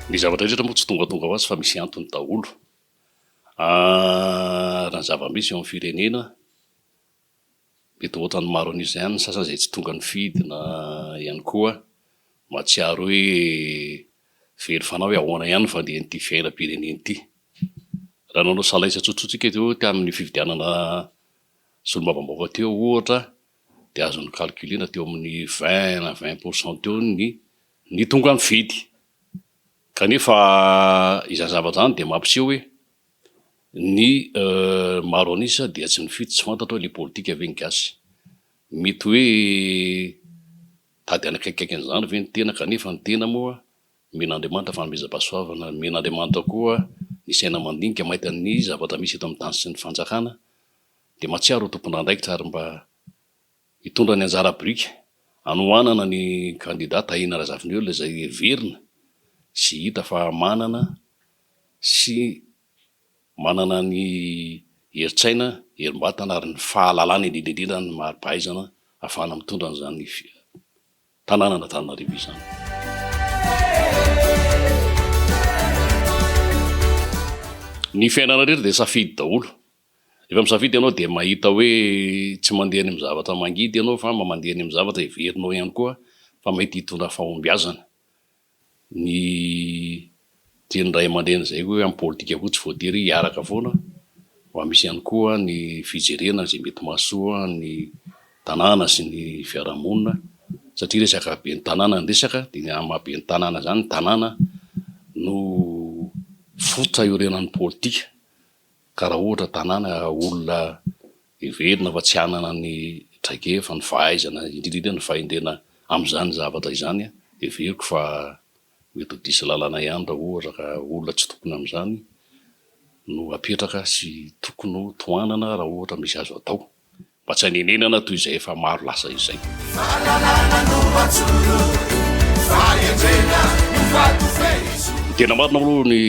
Ny zavatra rehetra moa tsy tongatonga ho azy fa misy antony daholo. Raha ny zava-misy eo amin'ny firenena Be daholo ohatran'ny maro an'io izay any ny sasany izay tsy tonga nifidy na ihany koa mahatsiaro hoe very fanahy hoe ahoana ihany ny fandehan'ity fiainam-pirenena ity. Raha nanao salaisa tsotsotra isika teo tamin'ny fifidianana solombavambahoaka teo ohatra dia azo ni-calculer-na teo amin'ny vingt na vingt pour cent teo ny ny tonga nifidy kanefa izany zavatra izany dia mampiseho hoe Ny maro an'isa dia tsy nifidy, tsy fantatra hoe le politika ve ny gasy? Mety hoe tady hanakaikikaiky an'izany ve ny tena kanefa ny tena moa omen'Andriamanitra fanomezam-pahasoavana, omen'Andriamanitra koa ny saina mandinika maita ny zavatra misy eto amin'ny tany sy ny fanjakana dia mahatsiaro ho tompon'andraikitra ary mba Hitondra ny anjara biriky hanohanana ny kandida Tahina Razafiniola izay heverina sy hita fa manana sy manana ny herin-tsaina, herim-batana ary ny fahalalana indrindra indrindra ny mari-pahaizana ahafahana mitondra an'izany tanànan'Antananarivo izany. Ny fiainana rehetra dia safidy daholo. Rehefa misafidy ianao dia mahita hoe tsy mandeha any amin'ny zavatra mangidy ianao fa mba mandeha any amin'ny zavatra heverinao ihany koa fa mety hitondra fahombiazana. Ny tian'ny ray aman-dreny izay koa hoe amin'ny politika koa tsy voatery hiaraka foana fa misy ihany koa ny fijerena izay mety mahasoa ny tanàna sy ny fiarahamonina satria resaka ben'ny tanàna ny resaka dia ny amin'ny maha ben'ny tanàna izany ny tanàna no fototra iorenan'ny politika. Ka raha ohatra tanàna olona heverina fa tsy hanana ny traikefa, ny fahaizana, indrindra indrindra ny fahendrena amin'izany zavatra izany, heveriko fa mety ho diso lalana ihany raha ohatra ka olona tsy tokony amin'izany no apetraka sy tokony ho tohanana raha ohatra misy azo atao. mba tsy hanenenana toy izay efa maro lasa izay. Ny tena marina aloha ny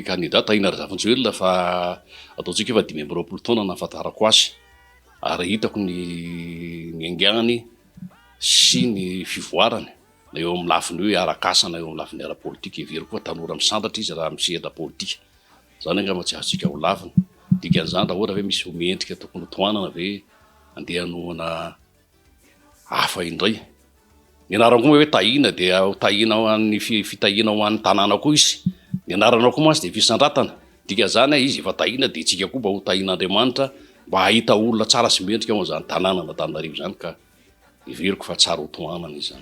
kandida Tahina Razafinjoelina fa ataontsika efa dimy amby roapolo taona no nahafantarako azy ary hitako ny ny haingany sy ny fivoarany na eo amin'ny lafiny hoe arak'asa na eo amin'ny lafiny ara-politika. Heveriko fa tanora misandratra izy raha amin'ny sehatra politika. Izany angamba tsy azontsika holavina. Dikan'izany, raha ohatra ve misy ho mendrika tokony ho tohanana ve andeha hanohana hafa indray? Ny anaranao moa hoe Tahiana dia ho tahiana ho an'ny fitahiana ho an'ny tanàna koa izy. Ny anaranao koa mantsy dia fisandratana. Dikan'izany, izy efa tahiana dia isika koa mba ho tahian'Andriamanitra mba hahita olona tsara sy mendrika ao amin'izany tanànan'Antananarivo izany ka heveriko fa tsara ho tohanana izany.